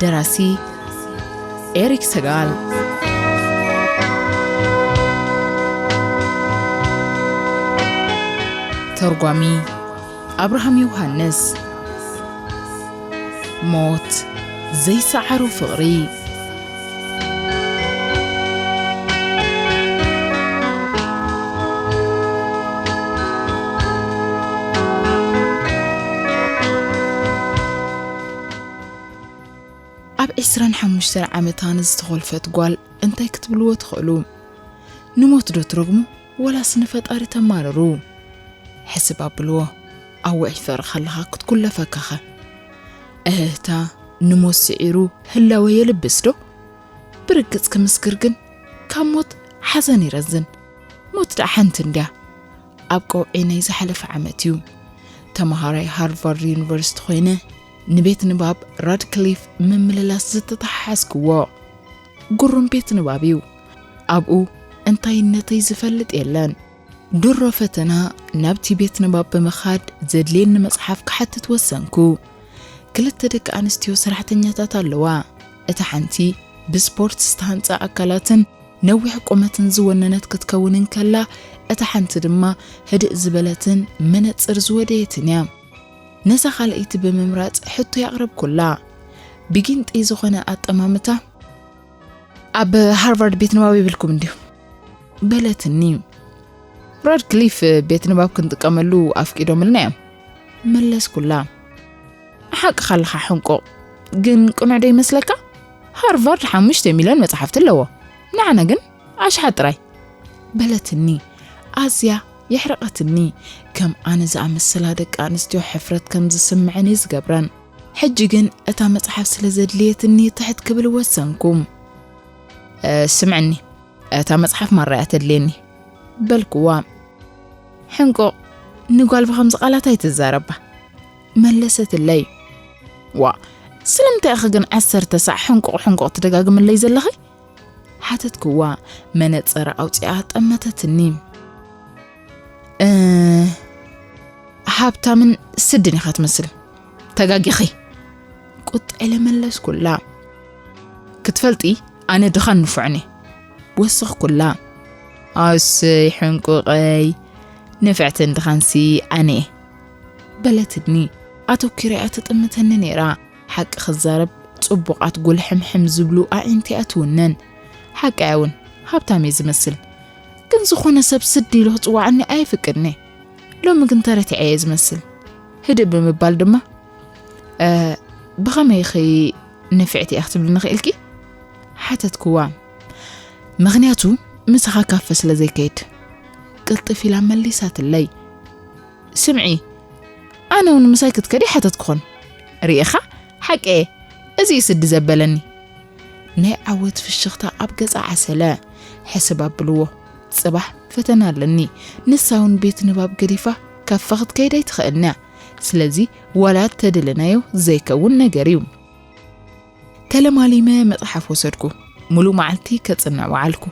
ደራሲ ኤሪክ ሰጋል ተርጓሚ ኣብርሃም ዮሃንስ ሞት ዘይሰዓሮ ፍቕሪ ኣብ ዕስራን ሓሙሽተን ዓመታ ንዝተኾልፈት ጓል እንታይ ክትብልዎ ትኽእሉ? ንሞት ዶ ትረግሙ ወላስ ንፈጣሪ ተማርሩ? ሕስብ ኣብልዎ። ኣወ ዒፈር ኸለኻ ክትኩለፈከኸ እህህታ ንሞት ስዒሩ ህላወ የልብስ ዶ ብርግጽ ክምስክር ግን ካብ ሞት ሓዘን ይረዝን ሞት ደኣ ሓንቲ እንድያ ኣብ ቀውዒ ናይ ዝሓለፈ ዓመት እዩ ተምሃራይ ሃርቫርድ ዩኒቨርሲቲ ኮይነ ንቤት ንባብ ራድክሊፍ ምምልላስ ዝተተሓሓዝክዎ ጉሩም ቤት ንባብ እዩ ኣብኡ እንታይነተይ ዝፈልጥ የለን ድሮ ፈተና ናብቲ ቤት ንባብ ብምኻድ ዘድልየኒ መጽሓፍ ክሓትት ወሰንኩ። ክልተ ደቂ ኣንስትዮ ሰራሕተኛታት ኣለዋ። እታ ሓንቲ ብስፖርት ዝተሃንጸ ኣካላትን ነዊሕ ቁመትን ዝወነነት ክትከውን እንከላ፣ እታ ሓንቲ ድማ ህድእ ዝበለትን መነጽር ዝወደየትን እያ። ነዛ ካልኣይቲ ብምምራጽ ሕቶይ ኣቕረብኩላ። ብጊንጢ ዝኾነ ኣጠማምታ፣ ኣብ ሃርቫርድ ቤት ንባብ የብልኩም እንድዩ? በለትኒ ራድክሊፍ ቤት ንባብ ክንጥቀመሉ ኣፍቂዶምልና እዮም መለስኩላ ሓቅኻ ኣለኻ ሕንቁቕ ግን ቅኑዕ ዶ ይመስለካ ሃርቫርድ ሓሙሽተ ሚልዮን መፅሓፍቲ ኣለዎ ንዓና ግን ኣሽሓት ጥራይ በለትኒ ኣዝያ የሕረቐትኒ ከም ኣነ ዝኣመሰላ ደቂ ኣንስትዮ ሕፍረት ከም ዝስምዐን እዩ ዝገብረን ሕጂ ግን እታ መፅሓፍ ስለ ዘድልየትኒ ትሕት ክብል ወሰንኩ ስምዕኒ እታ መጽሓፍ ማራያ ተድልየኒ በልክዋ ሕንቆ ንጓል ብከምዚ ቃላት ኣይትዛረባ መለሰትለይ ዋ ስለምንታይ ኢኺ ግን ዓሰርተ ሳዕ ሕንቁቕ ሕንቁቕ ትደጋግምለይ ዘለኺ ሓተትክዋ መነፀረ ኣውፅኣ ጠመተትኒ ሃብታምን ስድን ኢኻ ትመስል ተጋጊኺ ቁጥ ኢለ መለስኩላ። ክትፈልጢ ኣነ ድኻን ንፉዕን እየ ወሰኽኩላ። ኣሰይ ሕንቁቐይ ንፍዕትን ድኻንሲ ኣነ እየ በለትኒ ኣተኪረያ ትጥምተኒ ነይራ ሓቂ ክዛረብ ጽቡቓት ጉልሕምሕም ዝብሉ ኣዒንቲ እያ ትውነን ሓቂ እውን ሃብታም እየ ዝመስል ግን ዝኾነ ሰብ ስድ ኢሉ ክጽዋዓኒ ኣይፍቅድኒ ሎሚ ግን ተረቲዐ እየ ዝመስል ህድእ ብምባል ድማ ብኸመይ ኺ ንፍዕቲ እያ ክትብልኒ ኽእልኪ ሓተትክዋ ምኽንያቱ ምሳኻ ካፈ ስለ ዘይከይድ ቅልጥፍ ኢላ መሊሳትለይ ስምዒ ኣነ እውን ምሳይ ክትከዲ ሓተትክኾን ርኢኻ ሓቂ እየ እዚ እዩ ስዲ ዘበለኒ ናይ ዓወት ፍሽኽታ ኣብ ገጻ ዓሰለ ሕስብ ኣብልዎ ጽባሕ ፈተና ኣለኒ ንሳ ውን ቤት ንባብ ገዲፋ ካፋ ክትከይድ ኣይትኽእልን'ያ ስለዚ ዋላ እተደለናዮ ዘይከውን ነገር'ዩ። ተለማሊመ መጽሓፍ ወሰድኩ ሙሉእ መዓልቲ ከጽንዕ ወዓልኩ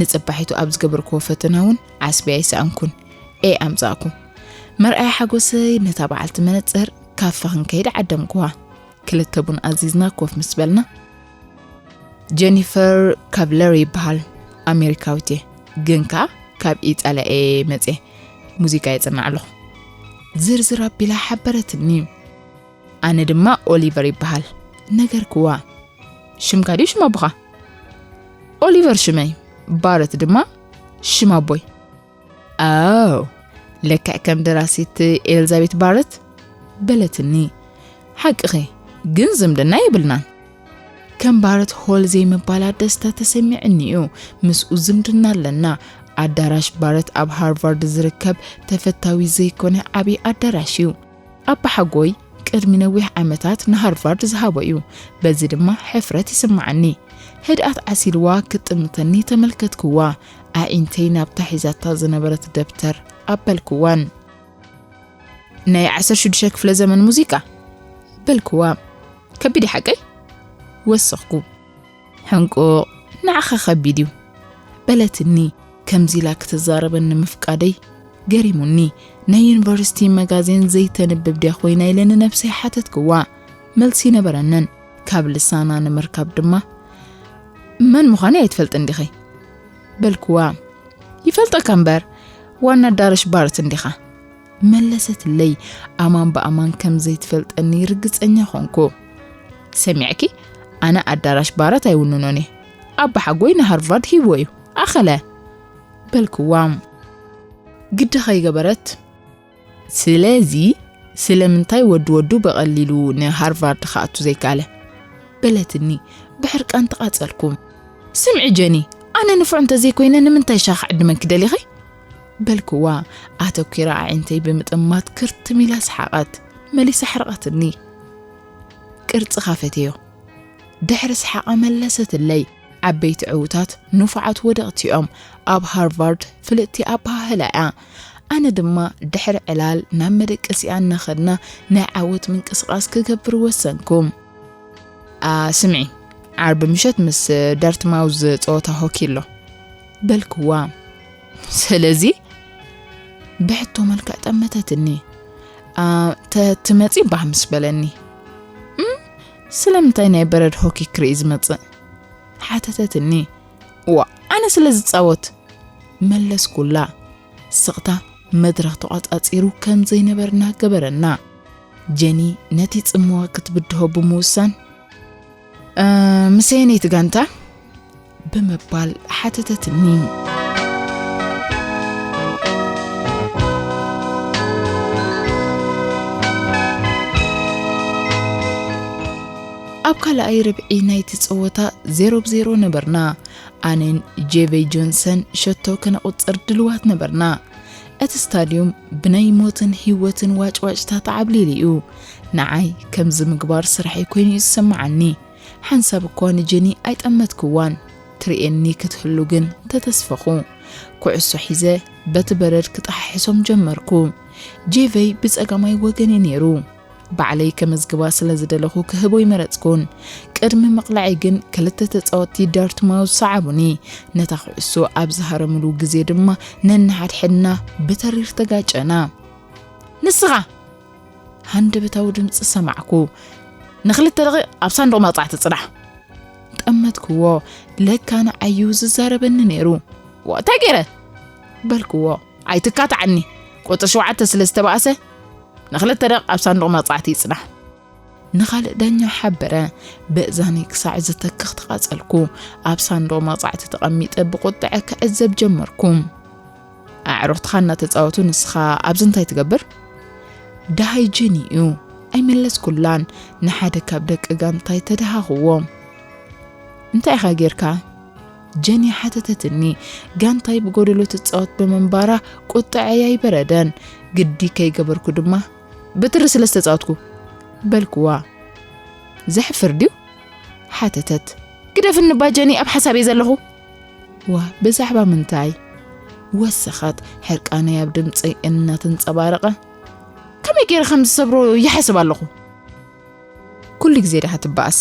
ንጽባሒቱ ኣብ ዝገበርክዎ ፈተና ውን ዓስቢ ኣይሰኣንኩን A ኣምጻእኩ። መርኣያ ሓጎሰይ ነታ በዓልቲ መነጽር ካፈ ክንከይድ ዓደምኩዋ ክልተ ቡን ኣዚዝና ኮፍ ምስ በልና፣ ጀኒፈር ካብለር ይበሃል ኣሜሪካዊት እየ ግን ከ ካብ ኢጣልያ እየ መፀ ሙዚቃ የፅናዕ ኣለኹ ዝርዝር ኣቢላ ሓበረትኒ ኣነ ድማ ኦሊቨር ይበሃል ነገር ክዋ ሽምካ ድዩ ሽም ኣቦኻ ኦሊቨር ሽመይ ባረት ድማ ሽም ኣቦይ ኣው ለክዕ ከም ደራሲት ኤልዛቤት ባረት በለትኒ ሓቅኺ ግን ዝምድና የብልናን ከም ባረት ሆል ዘይምባላ ደስታ ተሰሚዕኒ እዩ ምስኡ ዝምድና ኣለና ኣዳራሽ ባረት ኣብ ሃርቫርድ ዝርከብ ተፈታዊ ዘይኮነ ዓብዪ ኣዳራሽ እዩ ኣባሓጎይ ቅድሚ ነዊሕ ዓመታት ንሃርቫርድ ዝሃቦ እዩ፣ በዚ ድማ ሕፍረት ይስምዓኒ። ህድኣት ዓሲልዋ ክትጥምተኒ ተመልከትክዋ፣ ኣዒንተይ ናብታ ሒዛታ ዝነበረት ደብተር ኣበልክዋን። ናይ ዓሰርተ ሽዱሽተ ክፍለ ዘመን ሙዚቃ በልክዋ። ከቢድ ሓቀይ ወሰኽኩ። ሕንቁቕ ንዓኻ ከቢድ እዩ በለትኒ ከምዚ ኢላ ክትዛረበኒ ምፍቃደይ ገሪሙኒ ናይ ዩኒቨርሲቲ መጋዜን ዘይተንብብ ድያ ኮይና ኢለ ንነብሰይ ሓተትክዋ መልሲ ነበረንን ካብ ልሳና ንምርካብ ድማ መን ምዃነይ ኣይትፈልጥን ዲኺ በልክዋ ይፈልጠካ እምበር ዋና ኣዳረሽ ባርት እንዲኻ መለሰትለይ። ኣማን ብኣማን ከም ዘይትፈልጠኒ ርግጸኛ ዀንኩ። ሰሚዕኪ፣ ኣነ ኣዳራሽ ባራት ኣይውንኖን እየ። ኣባሓጎይ ንሃርቫርድ ሂብዎ እዩ። ኣኸለ በልክዋ። ግዲ ከይገበረት ስለዚ ስለምንታይ ወዲ ወዱ ብቐሊሉ ንሃርቫርድ ክኣቱ ዘይከኣለ በለትኒ። ብሕርቃን ተቓጸልኩ። ስምዒ ጀኒ፣ ኣነ ንፉዕ እንተዘይኮይነ ንምንታይ ሻኽ ዕድመን ክደሊኺ? በልክዋ ኣተኲረ ኣዒንተይ ብምጥማት ክርትም ኢላ ሰሓቐት መሊሳ ኣሕረቐትኒ ቅርጽኻ ፈቴዮ ድሕሪ ሰሓቓ መለሰትለይ ዓበይቲ ዕውታት ንፉዓት ወደቕቲዮም ኣብ ሃርቫርድ ፍልጥቲ ኣበሃህላ እያ ኣነ ድማ ድሕሪ ዕላል ናብ መደቀሲኣ እናኸድና ናይ ዓወት ምንቅስቓስ ክገብር ወሰንኩ ስምዒ ዓርቢ ምሸት ምስ ዳርትማውዝ ጸወታ ሆኪ ኣሎ በልክዋ። ስለዚ ብሕቶ መልክዕ ጠመተትኒ። ተትመጺ ባህ ምስ በለኒ። ስለምንታይ ናይ በረድ ሆኪ ክርኢ ዝመጽእ? ሓተተትኒ። ዋ ኣነ ስለ ዝጻወት መለስኩላ። ስቕታ መድረኽ ተቋጻጺሩ ከም ዘይነበርና ገበረና። ጀኒ ነቲ ጽምዋ ክትብድሆ ብምውሳን ምስ ኣየነይቲ ጋንታ ብምባል ሓተተትኒ ኣብ ካልኣይ ርብዒ ናይቲ ጸወታ ዜሮ ብዜሮ ነበርና ኣነን ጄቨይ ጆንሰን ሸቶ ከነቝጽር ድልዋት ነበርና እቲ ስታድዩም ብናይ ሞትን ህይወትን ዋጭዋጭታ ተዓብሊሉ እዩ። ንዓይ ከምዚ ምግባር ስርሐይ ኮይኑ እዩ ዝስምዓኒ። ሓንሳብ እኳ ንጀኒ ኣይጠመትክዋን። ትርእየኒ ክትህሉ ግን ተተስፈኹ። ኩዕሶ ሒዘ በቲ በረድ ክጠሓሕሶም ጀመርኩ። ጄቨይ ብጸጋማይ ወገን'ዩ ነይሩ። ባዕለይ ከመዝግባ ስለ ዝደለኹ ክህብ ኣይመረጽኩን። ቅድሚ ምቕላዐይ ግን ክልተ ተጻወትቲ ዳርትማውዝ ሰዓቡኒ። ነታ ኩዕሶ ኣብ ዝሃረምሉ ግዜ ድማ ነንሓድሕድና ብተሪር ተጋጨና። ንስኻ! ሃንደበታዊ ድምጺ ሰማዕኩ። ንኽልተ ደቒቕ ኣብ ሳንዱቕ መቕጻዕቲ ጽናሕ! ጠመትክዎ። ለካ ንዓዩ ዝዛረበኒ ነይሩ። እንታይ ገይረ? በልክዎ። ኣይትካትዓኒ ቁጽሪ ሸውዓተ ስለ ዝተባእሰ ንክልተ ደቕ ኣብ ሳንዱቕ መቕጻዕቲ ይጽናሕ። ንኻልእ ዳኛ ሓበረ። በእዛኒ ክሳዕ ዝተክኽ ተቓጸልኩ። ኣብ ሳንዱቕ መቕጻዕቲ ተቐሚጠ ብቁጥዐ ክዕዘብ ጀመርኩ። ኣዕሩኽትኻ እናተጻወቱ ንስኻ ኣብዚ እንታይ ትገብር? ደሃይ ጀኒ እዩ። ኣይመለስኩላን። ንሓደ ካብ ደቂ ጋንታይ ተደሃኽዎ። እንታይ ኢኻ ጌርካ? ጀንያ ሓተተትኒ። ጋንታይ ብጎደሎ ትጻወት ብምንባራ ቁጠዐይ ኣይበረደን። ግዲ ከይገበርኩ ድማ ብትሪ ስለ ዝተጻወትኩ በልኩዋ። ዘሕፍር ድዩ? ሓተተት። ግደፍኒ እባ ጀኒ ኣብ ሓሳብ እየ ዘለኹ። ዋ ብዛዕባ ምንታይ? ወሰኸት ሕርቃነይ ኣብ ድምፀይ እናተንፀባረቐ። ከመይ ገይረ ከም ዝሰብሮ ይሓስብ ኣለኹ። ኩሉ ግዜ ድኻ ትበኣስ?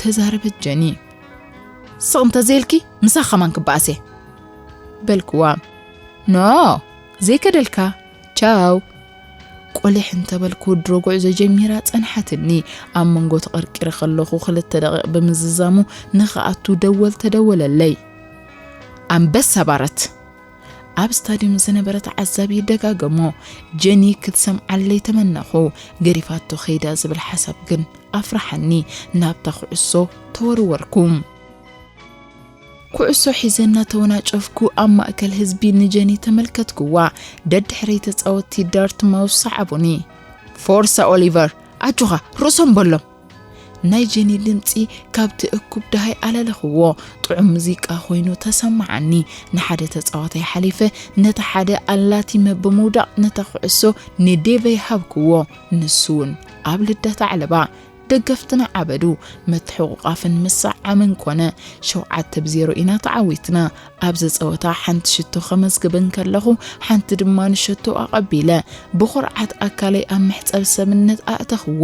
ተዛረበት ጀኒ ስቕ እንተዘይልኪ ምሳኽ ከማን ክበኣስ እየ በልክዋ ኖ ዘይከደልካ ቻው ቆሊሕ እንተበልኩ ድሮ ጉዕዞ ጀሚራ ጸንሓትኒ ኣብ መንጎ ተቐርቂረ ከለኹ ክልተ ደቂቕ ብምዝዛሙ ንኽኣቱ ደወል ተደወለለይ ኣንበሳ ባረት ኣብ ስታድዩም ዝነበረ ተዓዛቢ ደጋገሞ ጀኒ ክትሰምዓለይ ተመነኹ ገሪፋቶ ከይዳ ዝብል ሓሳብ ግን ኣፍራሓኒ ናብታ ኩዕሶ ተወርወርኩ ኩዕሶ ሒዘ እናተወናጨፍኩ ኣብ ማእከል ህዝቢ ንጀኒ ተመልከትኩዋ። ደድሕረይ ተጻወትቲ ዳርት ማውስ ሰዓቡኒ። ፎርሳ ኦሊቨር ኣጆኻ ርእሶም በሎም ናይ ጀኒ ድምጺ ካብቲ እኩብ ደሃይ ኣለለኽዎ። ጥዑም ሙዚቃ ኮይኑ ተሰመዓኒ። ንሓደ ተጻዋታይ ሓሊፈ ነቲ ሓደ ኣላቲመ ብምውዳቕ ነታ ኩዕሶ ንዴቨይ ሃብክዎ። ንሱ'ውን ኣብ ልደት ኣዕለባ። ደገፍትና ዓበዱ። ምትሕቑቛፍን ምስዕዓምን ኮነ። ሸውዓተ ብ ዜሮ ኢና ተዓዊትና። ኣብዚ ጸወታ ሓንቲ ሽቶ ከመዝግብ እንከለኹ ሓንቲ ድማ ንሸቶ ኣቐቢለ ብኹርዓት ኣካለይ ኣብ መሕጸቢ ሰብነት ኣእተኽዎ።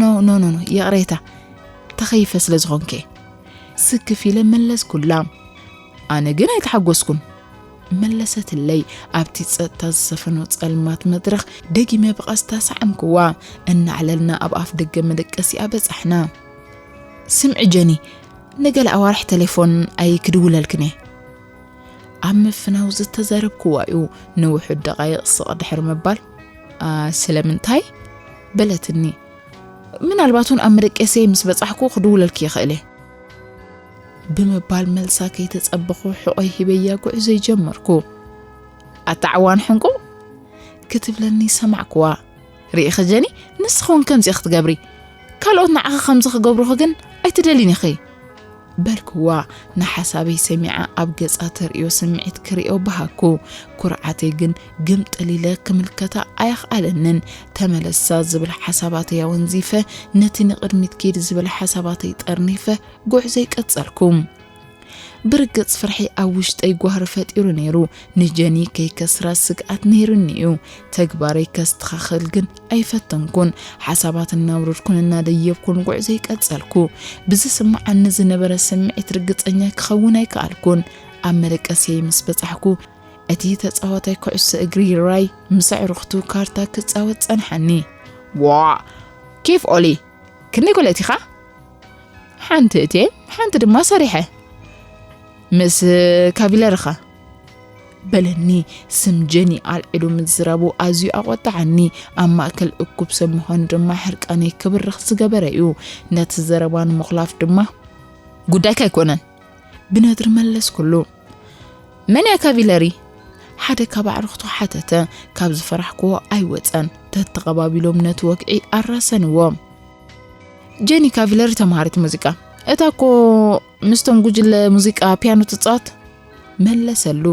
ኖ ኖ ኖ ኖ ይቕሬታ ተኸይፈ ስለ ዝኾንከ ስክፍ ኢለ መለስኩላ ኣነ ግን ኣይተሓጎስኩን መለሰትለይ ኣብቲ ጸጥታ ዝሰፈኖ ጸልማት መድረኽ ደጊመ ብቐስታ ሳዕምክዋ እናዕለልና ኣብ ኣፍ ደገ መደቀሲኣ በጻሕና ስምዒ ጀኒ ንገለ ኣዋርሕ ቴሌፎን ኣይክድውለልክን እየ ኣብ ምፍናው ዝተዘረብክዋ እዩ ንውሑድ ደቓይቕ ስቕ ድሕሪ ምባል ስለምንታይ በለትኒ ምናልባት እውን ኣብ መደቀሰይ ምስ በጻሕኩ ክድውለልኪ ይኽእል እየ ብምባል መልሳ ከይተጸበኹ ሕቖይ ሂበያ ጉዕዞ ይጀመርኩ ኣታዕዋን ሕንቁ ክትብለኒ ሰማዕክዋ ርኢኺ ጀኒ ንስኺ ውን ከምዚ ኢኺ ትገብሪ ካልኦት ንዓኺ ከምዚ ክገብሩኺ ግን ኣይትደልይን ኢኺ በልክዋ ንሓሳበይ ሰሚዓ ኣብ ገጻ ተርእዮ ስምዒት ክርእዮ በሃኩ ኩርዓተይ ግን ግምጥል ኢለ ክምልከታ ኣየኽኣለንን ተመለሳ ዝብል ሓሳባተይ ኣወንዚፈ ነቲ ንቕድሚት ኪድ ዝብል ሓሳባተይ ጠርኒፈ ጉዕዘይ ቀጸልኩ ብርግጽ ፍርሒ ኣብ ውሽጠይ ጓህሪ ፈጢሩ ነይሩ። ንጀኒ ከይከስራ ስግኣት ነይሩኒ እዩ። ተግባረይ ከስተኻኽል ግን ኣይፈተንኩን። ሓሳባት እናውረድኩን እናደየብኩን ጉዕዞይ ቀጸልኩ። ብዝስምዓኒ ዝነበረ ስምዒት ርግጸኛ ክኸውን ኣይከኣልኩን። ኣብ መደቀስየይ ምስ በጻሕኩ፣ እቲ ተጻዋታይ ኩዕሶ እግሪ ራይ ምስ ኣዕሩኽቱ ካርታ ክጻወት ጸንሓኒ። ዋእ! ኬፍ ኦሊ! ክንደይ ጎለቲኻ? ሓንቲ እቴ ሓንቲ ድማ ሰሪሐ ምስ ካቪለርኻ በለኒ ስም ጀኒ ኣልዒሉ ምዝረቡ ኣዝዩ ኣቆጣዓኒ ኣብ ማእከል እኩብ ሰብ ምዃኑ ድማ ሕርቃነይ ክብርኽ ዝገበረ እዩ ነቲ ዘረባ ንምኹላፍ ድማ ጉዳይካ ኣይኮነን ብነድሪ መለስኩሉ። መን እያ ካቪለሪ? ሓደ ካብ ኣዕርኽቱ ሓተተ። ካብ ዝፈራሕክዎ ኣይወፀን። ተተቐባቢሎም ነቲ ወግዒ ኣራሰንዎ። ጀኒ ካቪለሪ ተምሃሪት ሙዚቃ እታ እኮ ምስቶም ጉጅለ ሙዚቃ ፒያኖ ትፃወት መለሰሉ።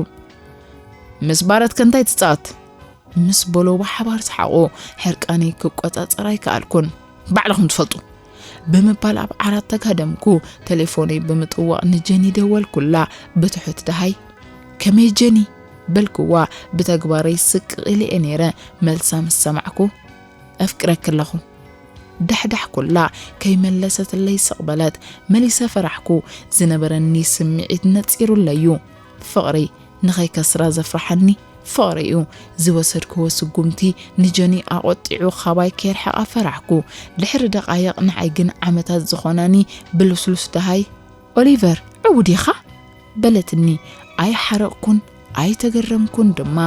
ምስ ባረት ከንታይ ትፃወት ምስ በሎ ብሓባር ሰሓቑ። ሕርቃነይ ክቆፃፀር ኣይከኣልኩን። ባዕልኹም ትፈልጡ ብምባል ኣብ ዓራት ተጋደምኩ። ቴሌፎነይ ብምጥዋቕ ንጀኒ ደወልኩላ። ብትሑት ደሃይ ከመይ ጀኒ በልክዋ። ብተግባረይ ስቅቕ ኢለ'የ ነይረ። መልሳ ምስ ሰማዕኩ ኣፍቅረኪ ኣለኹ ዳሕዳሕ ኩላ ከይመለሰትለይ ስቕ በለት። መሊሰ ፈራሕኩ። ዝነበረኒ ስምዒት ነጺሩለይ'ዩ። ፍቕሪ ንኸይከስራ ዘፍርሓኒ ፍቕሪ እዩ። ዝወሰድክዎ ስጉምቲ ንጀኒ ኣቖጢዑ ካባይ ከየርሕቓ ፈራሕኩ። ድሕሪ ደቓይቕ ንዓይ ግን ዓመታት ዝኾናኒ ብልስሉስ ደሃይ። ኦሊቨር ዕውት ኢኻ? በለትኒ። ኣይሓረቕኩን ኣይተገረምኩን ድማ።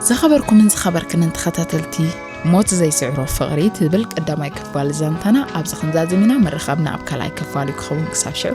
ዝኸበርኩምን ዝኸበርክንን ተኸታተልቲ ሞት ዘይስዕሮ ፍቕሪ ትብል ቀዳማይ ክፋል ዛንታና ኣብዚ ክንዛዝም ኢና ምርኻብና ኣብ ካልኣይ ክፋል እዩ ክኸውን ክሳብ ሽዑ